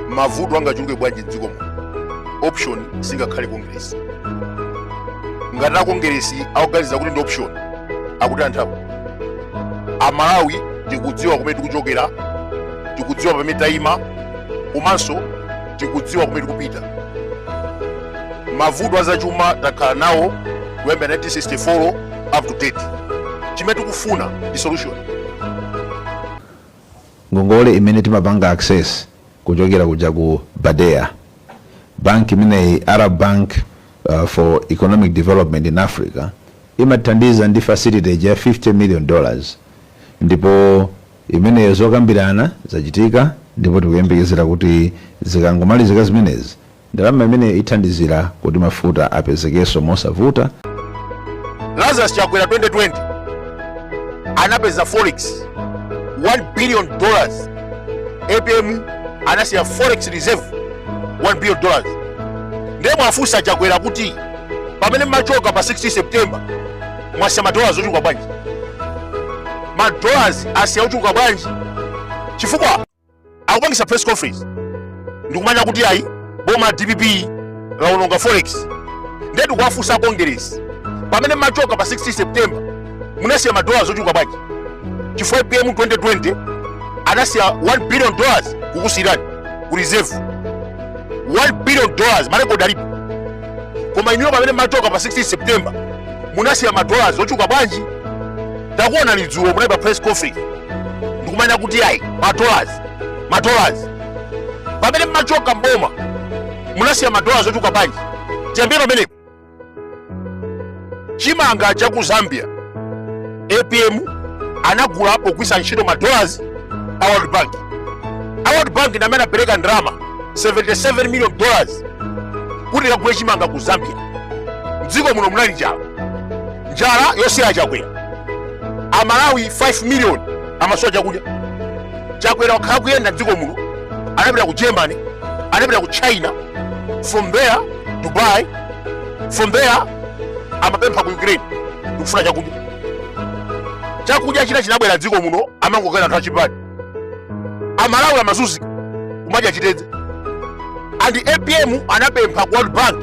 mavuto angachuluke bwanji mdziko muno option singakhale kongeresi ngati akongeresi akuganiza kuti ndi option akuti anthapo amalawi tikudziwa kumene tikuchokera tikudziwa pamene tayima komanso tikudziwa kumene tikupita mavuto azachuma takhala nawo kuyambira 1964 up to date chimene tikufuna ndi solution ngongole imene timapanga access kuchokera kuja ku badea bank imeneyi arab bank uh, for economic development in africa imathandiza ndi facility ya 50 million dollars ndipo imeneyo zokambirana zachitika ndipo tikuyembekezera kuti zikangomalizika zimenezi Ndalama imeneyo ithandizira kuti mafuta apezekenso mosavuta. Lazarus Chakwera 2020 anapeza forex 1 billion dollars. APM anasiya forex reserve 1 billion dollars. Ndiye muwafunse a Chakwera kuti pamene mmachoka pa 16 September mwasiya madollars ochuluka bwanji? Madollars asiya ochuluka bwanji? Chifukwa akupangisa press conference ndikumanena kuti ayi boma la dpp laononga forex ndiye tikuwafunsa a congress pamene mmachoka pa 16 september munasiya madollars ochuluka bwanji chifukwa apm 2020 anasiya 1 billion dollars kukusiyirani ku reserve 1 billion dollars marekodi alipo koma inuyo pamene mmachoka pa 16 september munasiya madollars ochuluka bwanji takuonani dzulo munali pa press conference ndikumanena kuti ayi madollars madollars pamene mmachoka mboma munasiya madollars ochuluka bwanji tiyambire pamenepo chimanga cha ku zambia apm anagula pogwisa ntchito madollars a world bank a world bank ndi amene anapereka ndalama 77 million dollars kuti akagule chimanga ku zambia mdziko muno munali njala njala yosiya a chakwera amalawi 5 million amasowa chakudya chakwera wakhala akuyenda mdziko muno anapita ku germany anapita ku china from there dubai from there amapempha ku ukraine ndikufuna chakudya chakudya china chinabwera mdziko muno amangogawira anthu achipani amalawi amazunzika kumadya chitedze and apm anapempha ku world bank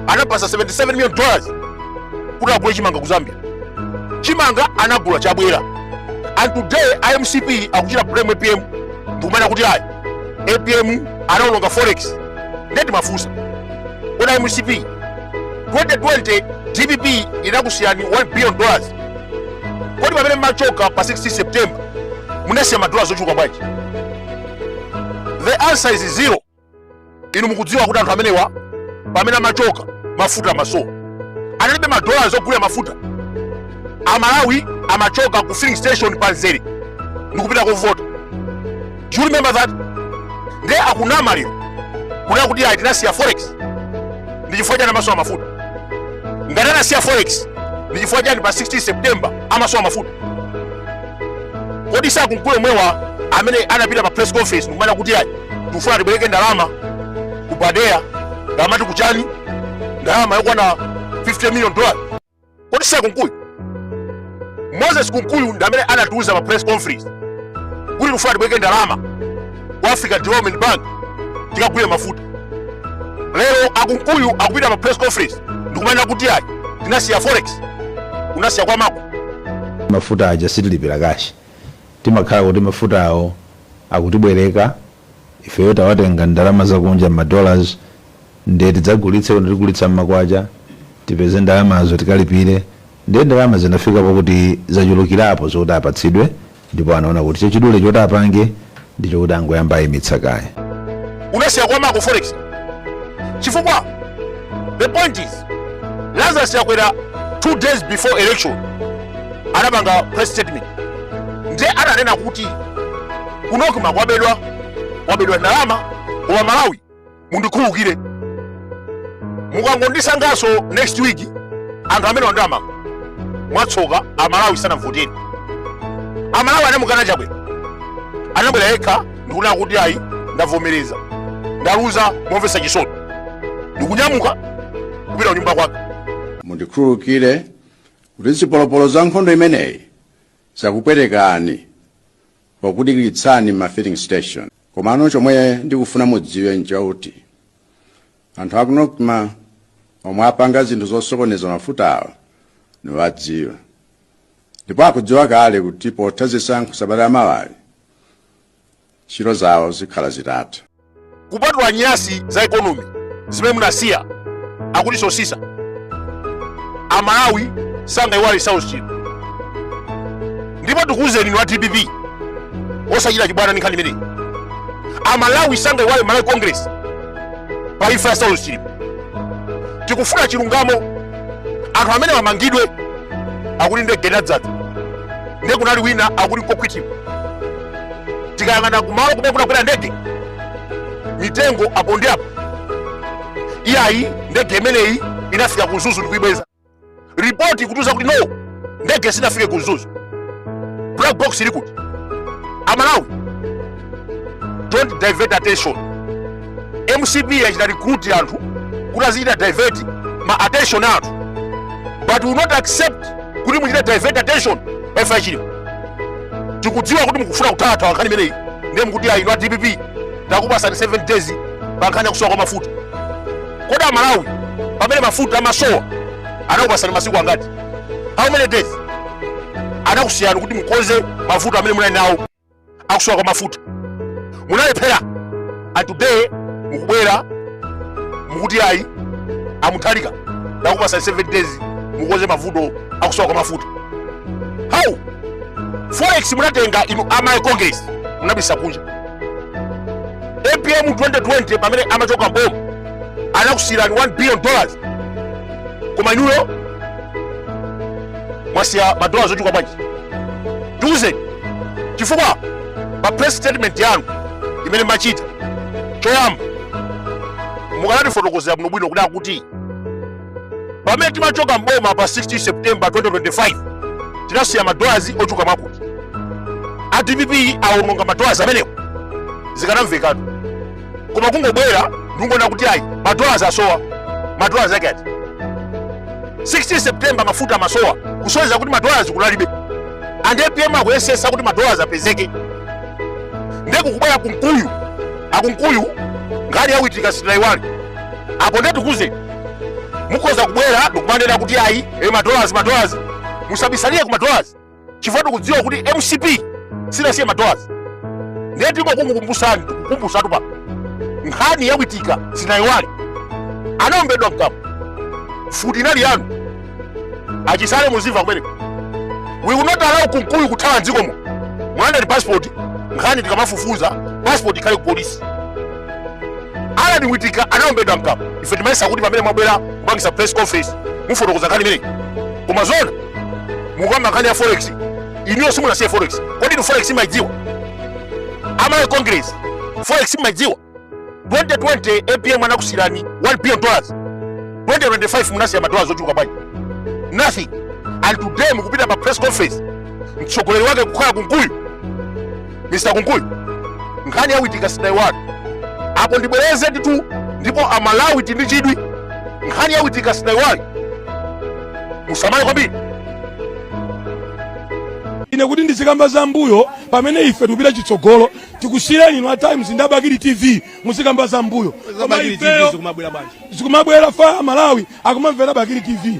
anawapatsa 77 million dollars kuti agule chimanga ku zambia chimanga anagula chabwera and today a mcp akuchita blame apm ndikumanena kuti ayi apm anaononga forex nde tiwafunse kodi a mcp 2020 dpp inakusiyirani 1 billion dollars kodi pamene mmachoka pa 16 september munasiya madola zochuluka bwanji the answer is zero inu mukudziwa kuti anthu amenewa pamene amachoka mafuta amasowa analibe madola zogulira mafuta amalawi amachoka ku filling station panzere ndikupita kovota Do you remember that? Ndiye akunama lero. Kuti akuti ayi tinasiya forex. Ndi chifukwa chani amasowa mafuta. Ngati anasiya forex, ndi chifukwa chani pa 16 September amasowa mafuta. Kodi si a Kunkuyu omwewa amene anapita pa press conference ndikumanena kuti ayi tikufuna tibwereke ndalama ku BADEA ndamati kuchani ndalama yokwana 50 million dollars. kodi si akunkuyu moses kunkuyu ndi amene anatiuza pa press conference kuti tikufuna tibwereke ndalama ku africa development bank tikagule mafuta lero akunkuyu akupita pa press conference ndikumanena kuti ayi tinasiya forex unasiya kwa mako mafuta aja sitilipira kashi timakhala kuti mafutawo akutibwereka ifeyo tawatenga ndalama zakunja mma dollars nde tidzagulitse kuno tigulitsa mmakwacha tipeze ndalamazo tikalipire nde ndalama zinafika pokuti zachulukirapo zokuti apatsidwe ndipo anaona kuti chachidule choti apange ndichokuti angoyamba kuyimitsa kaye unasiya kwa mako forex chifukwa the point is lazarus chakwera two days before election anapanga press statement nde ananena kuti kuti kunocma kwabedwa kwabedwa ndalama koma amalawi mundikhululukire mukangondisankhanso next week anthu amenewa ndiamanga mwatsoka amalawi sanamvotere amalawi anamukana chakwera anabwera yekha ndikunena kuti ayi ndavomereza ndaluza momvesa chisoni ndikunyamuka kupita kunyumba kwake mundikhululukire kuti zipolopolo za nkhondo imeneyi zakupwetekani pokudikiritsani mma filling station komano chomwe ndikufuna mudziwe nchakuti anthu aku nocma omwe apanga zinthu zosokoneza mafutawo ndikuwadziwa ndipo akudziwa kale kuti potha zisankho sabata la mawali ntchito zawo zikhale zitatha kupatula nyasi za ekonomi zimene munasiya akuti sosisa amalawi sangayiwale saulos chilima ndipo tikuwuzeni inu a dpp osachita chibwana ndi nkhani imeneyi amalawi sangayiwale malawi congress pa imfa ya saulos chilima tikufuna chilungamo anthu amene amangidwe akuti ndi gedadzatu ndiye kunali wina akuti nkokhwitiwa tikayang'ana kumalo kumene kunagwera ndege mitengo apo ndi apo iyayi ndege imeneyi inafika ku mzuzu ndikuyibweza ripoti kutiuza kuti no ndege sinafike ku mzuzu black box ili kuti amalawi don't divert attention mcp yachita recruit anthu kuti azichita divert ma attention a anthu but we will not accept kuti muchite divert attention pa imfa ya Chilima tikudziwa kuti mukufuna kuthawa nkhani imeneyi ndiye mukuti ayi inu a dpp takupatsani 7 days pa nkhani yakusowa kwa mafuta kodi amalawi pamene mafuta amasowa anakupatsani masiku angati how many days anakusiyani kuti mukonze mavuto amene munali nawo akusowa kwa mafuta munalephera and today mukubwera mukuti ayi amuthalika takupatsani 7 days mukonze mavuto akusowa kwa mafuta how forex munatenga inu a Malawi congress munabisa kunja apm 2020 pamene amachoka mboma anakusiyirani 1 billion dollars koma inuyo mwasiya madolazi ochuluka bwanji tiuzeni chifukwa pa press statement yanu imene machita choyamba mukanatifotokozera bwinobwino kuti akuti pamene timachoka mboma pa 16 september 2025 tinasiya madolazi ochuluka mwakuti a dpp awononga madolazi amenewo zikanamvekatu koma kungobwera ndikunena kuti ayi madollars asowa madollars ake ati 16 september mafuta amasowa kusonyeza kuti madollars kunalibe and apm akuyesetsa kuti madollars apezeke ndiye kukubwera kunkuyu akunkuyu nkhani yawitika sitinayiwali apo ndiye tikuuzeni mukhoza kubwera ndikumanena kuti ayi e madollars madollars musabisalile ku madollars chifukwa tikudziwa kuti mcp sinasiye madolars ndiye tingokukumbutsani tikukumbutseni pa nkhani ya witika sitinayiwale anaombedwa mkamwa mfuti inali yanu achisale muzimva kumene we will not allow kunkuyu kuthawa mdziko muno mulandeni passport nkhani tikamafufuza passport ikhale ku polisi Allan witika anaombedwa mkamwa ife timayesa kuti pamene mwabwera kupangitsa press conference mufotokoza nkhani imeneyi koma zona mukamba nkhani ya forex inuyo simunasiye forex kodi inu forex mumaidziwa a Malawi congress forex mumaidziwa 2020 apm anakusiyirani 1 billion dollars 2025 munasiya madolazi ochuluka bwanji nothing and today mukupita pa press conference mtsogoleri wake kukhala kunkuyu mr kunkuyu nkhani ya witika sitaiwali apo ndibwereze ndithu ndipo amalawi tindi chidwi nkhani ya witika sitaiwali musamale kwambiri ine kuti ndizikamba za mbuyo pamene ife tikupita chitsogolo tikusiyireni inu a times ndi a bakili tv muzikamba za mbuyo koma ifeyo zikumabwera faya malawi akumamvera bakili tv